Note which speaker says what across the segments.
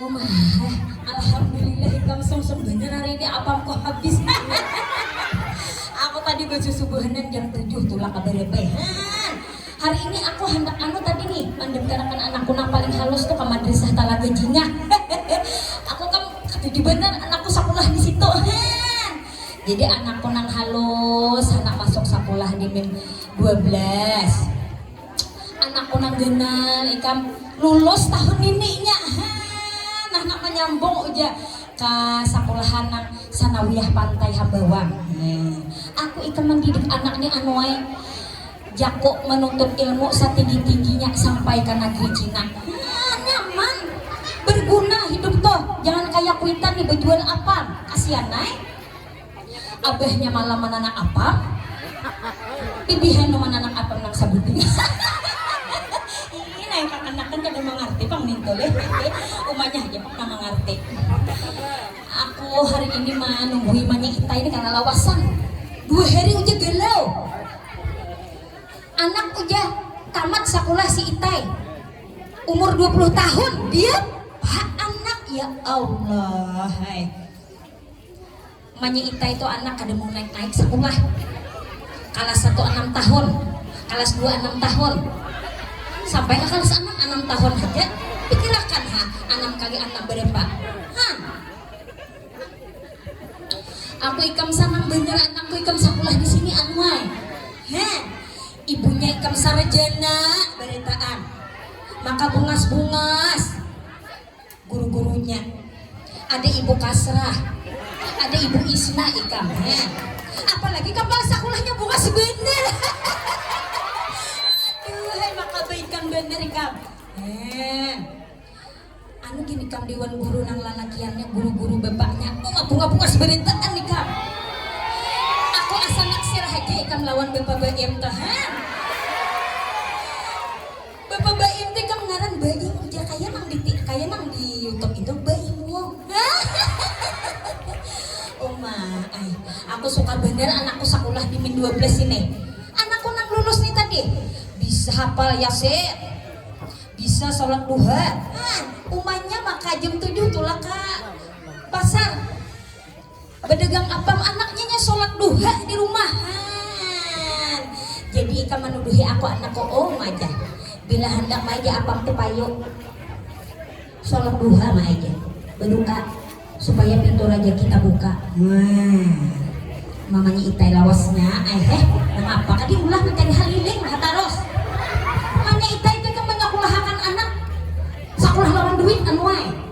Speaker 1: Alhamdulillah ikam sungsung banar hari ini apam ku habis aku tadi bajusubuhanan jam tujuh tu lah kada lepehan hari ini aku handak anu tadi nih mandaftarkan anakku nang paling halus tu ka madrasah talaga jingah aku kam katuju banar anakku sakulah di situ han jadi anakku nang halus handak masuk sakulah di min dua belas. Anakku nang ganal ikam lulus tahun nini nya ha nah nak manyambung uja ka sakulahan nang sanawiyah pantai hambawang he aku ikam mandidik anak ni anu ai jaku manuntut ilmu satinggi tingginya sampai ka nagri cina ha nyaman berguna hidup tuh jangan kaya kuitan ni bajual apam kasian ai. Abahnya malam mananak apam, pipihan tu mananak apam nang sabuting. Iih, nang kakanakan kada mangarti pang nintu leh. Umanya haja pang nang mangarti. Aku hari ini manunggui imannya Itai ni karna lawasan. Dua hari ujar galau. Anak ujar tamat sakulah si Itai. Umur dua puluh tahun, dia ha anak. Ya Allah ai. Manya itai tu anak kada mau naik-naik sakulah. Kalas satu anam tahun, kalas dua anam tahun, sampai ka kalas anam, anam tahun haja. Pikirakan ha, anam kali anam barapa? Hah. Aku ikam sanang banar anakku ikam sakulah di sini anuai. Heh. Ibunya ikam sarjana barataan. Maka bungas-bungas. Guru-gurunya. Ada ibu Kasrah. Ada ibu Isna ikam he. Apalagi kam ba sakulahnya bungas banar. Aduhai makabaikan banar ikam. Hee. Anu gin ikam diwan guru nang lalakiannya guru-guru bapaknya. Uma bunga bungas barataan ikam. Aku asa naksir haja ikam lawan bapa Baim tuh he. Bapa Baim te kam ngaran Baim ujar kaya nang di kaya nang di youtube itu Baim Wong. Uma ai, aku suka banar anakku sakulah di min dua belas ini. Anakku nang lulus ni tadi, bisa hapal yasin, bisa salat duha, umanya maka jam tujuh tulak ka pasar. Badagang apam anaknya nya solat duha di rumah haan jadi ikam manuduhi aku anak koom aja bila handak maija apam tu payu solat duha maija badu'a supaya pintu rajaki tabuka haan mamanya itai lawas nya ai heh nangapa kah di ulah mancari haliling ha tarus mamanya itai tu ikam banyak ulahakan anak sakulah lawan duit anuai.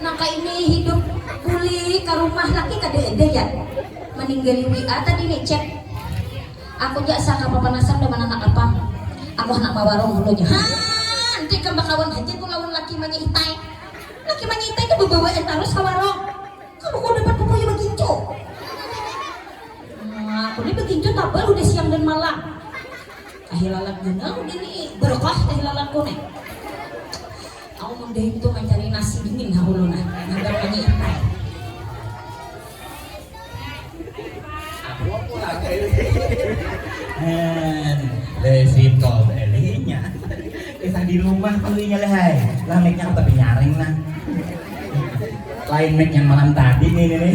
Speaker 1: Naka ini hidup bulik ka rumah laki kada ada ya maninggali WA tadi ni chat aku ja sa ka papanasan da mananak apa aku handak bawarung hulu nya haa nti ikam bakawan haja tu lawan laki manya itai laki manya itai tu bebawaan tarus ka warung kalu ku dapat ku kaya bagincu aku ni bagincu tabal udah siang dan malam. Tahilalat genang dini berkah tahilalatku nih. Aku mun dahing tu mancari nasi dingin ha ulun ah. Ngadang mani ipai. Aku pulang
Speaker 2: Hen, resiko belinya. Kisah di rumah tuh inya lehai. Lah mic-nya aku tapi nyaring nah. Lain mic yang malam tadi nih nih.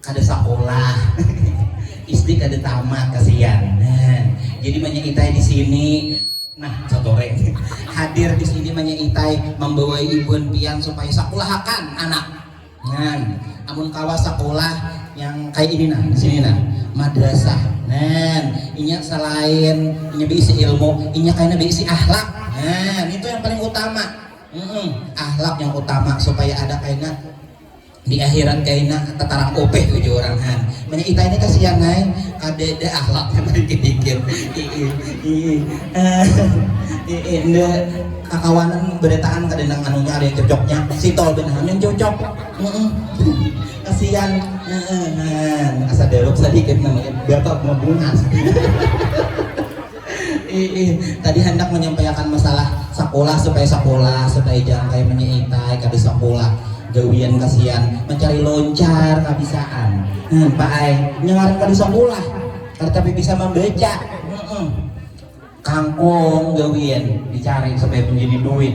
Speaker 2: kada sakolah SD kada tamat kasihan nah, jadi manya itai di sini nah sotore hadir di sini manya itai membawai ibun pian supaya sakolahakan anak nah amun kawa sakolah yang kayak ini nah di sini nah madrasah nah inya selain inya diisi ilmu inya kayaknya diisi ahlak nah itu yang paling utama mm -mm, ahlak yang utama supaya ada kayaknya Di akhirat kaina tatarang upih uju urang han. Munnya itai ni kasian ai, kadada akhlaknya badikit-dikit. Iih, iih, iih, nda kakawanan barataan kada nang anunya kada nang cucuknya. Si Tol gin ham yang cucuk. Kasian, han. Asa darup sadikit nang inya, bapa bungas. Iih, tadi handak manyampaiakan masalah sakulah supaya sakulah, supaya jangan kaya manya itai kada sakulah, gawian kasian, mancari loncar kabisaan. Heh pa ai, nya ngaran kada sakulah, kada tapi bisa mambaca. Heeh. Kangkung gawian dicari supaya manjadi duit.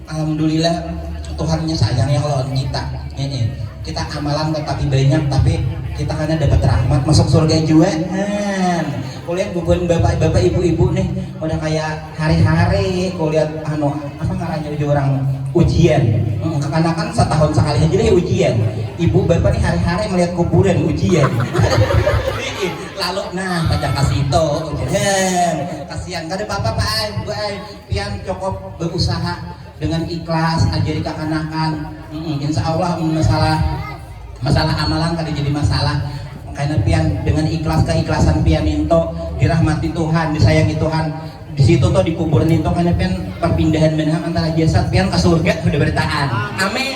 Speaker 2: Alhamdulillah Tuhan nya sayang ya lawan kita hehe kita amalan tatapi banyak tapi kita kada dapat rahmat masuk surga jua nah kulihat bubuhan bapak bapak ibu ibu nih udah kaya hari hari kulihat anu apa ngarannya uju urang ujian kekanakan satahun sakali haja deh ujian ibu bapak nih hari hari melihat kuburan ujian lalu nah pacang kasitu ujian kasian kada papa pak ai bu ai Pian cokop beusaha dengan ikhlas ajari kakanakan insya Allah mun masalah masalah amalan kada jadi masalah kena pian dengan ikhlas keikhlasan pian ninto dirahmati Tuhan disayangi Tuhan disitu to dikubur ninto kena pian perpindahan banar antara jasad pian ke surga sudah beritaan amin.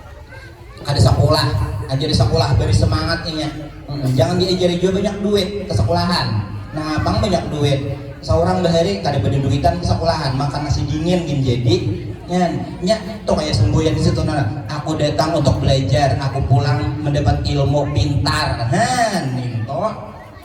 Speaker 2: kada sakulah ajari sakulah bari semangat inya hmm, jangan diajari juga banyak duit ke sekolahan nah abang banyak duit seorang bahari kada pada duitan ke sekolahan makan nasi dingin gin jadi nyan nya tuh kayak semboyan di situ nah aku datang untuk belajar aku pulang mendapat ilmu pintar han itu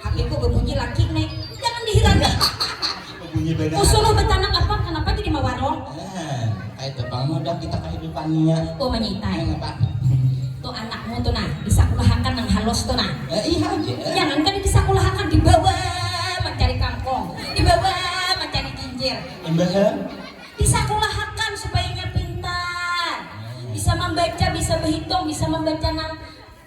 Speaker 1: Hatiku bebunyi laki ne jangan dihirani hahaha
Speaker 2: usuruh betanak apa
Speaker 1: kenapa jadi mawarong kaitu
Speaker 2: pang mudah kita kahidupan nia oh manyitai tu
Speaker 1: anakmu tu nah disakulahakan nang halus tu nah
Speaker 2: jangan kan disakulahakan
Speaker 1: dibawa mancari kangkong dibawa mancari jinjir imbahnya disakulahakan supaya inya pintar bisa mambaca bisa bahitung bisa mambaca nang.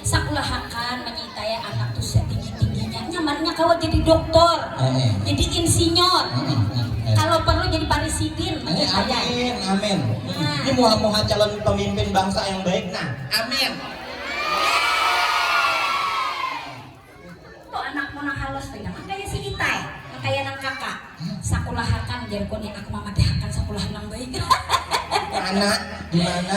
Speaker 2: Sakulahakan
Speaker 1: manyitaya anak tu satinggi-tingginya. Nyamannya kawa jadi doktor, jadi insinyur, kalau perlu jadi parisidin manyitaya. Amin, amin.
Speaker 2: Ini muha-muha calon pemimpin bangsa yang baik nah. Amin. Tu
Speaker 1: anakmu nang halus tu jangan kaya si Itai, nang kaya nang kaka. Sakulahakan jarku ni, aku mamadahakan sakulahan nang baik. Mana?
Speaker 2: Dimana?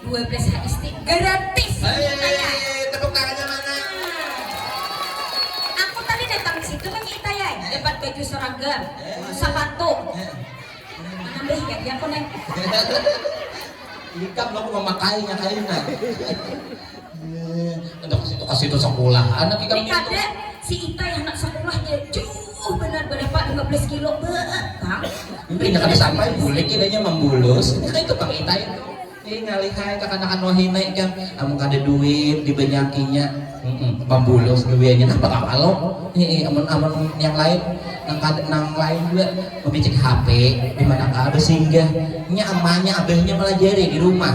Speaker 1: Dua belas HST gratis ini taya. Hei
Speaker 2: tepuk tangannya mana.
Speaker 1: Aku tadi datang di situ nanya itaya ai dapat baju seragam, sapatu. Mana beh jadi aku neh.
Speaker 2: Ikam aku memakainya kaina. Handak ke situ ka situ sakulah anak ikam Ai kada, nitu.
Speaker 1: si
Speaker 2: Itai
Speaker 1: handak sakulahnya jauh banar barapa dua belas kilo beuh pang. Imbah inya kada
Speaker 2: sampai bulik kira inya mambulus, inya kaitu pang Itai tu. Ih ngalihai kakanakan wahina ikam, amun kada duit dibanyakinya, humm mambulus gawiannya napa kam alu, hii amun amun yang lain nang kada nang lain jua mamicik HP dimana ka besinggah, nya amanya abahnya malajari dirumah.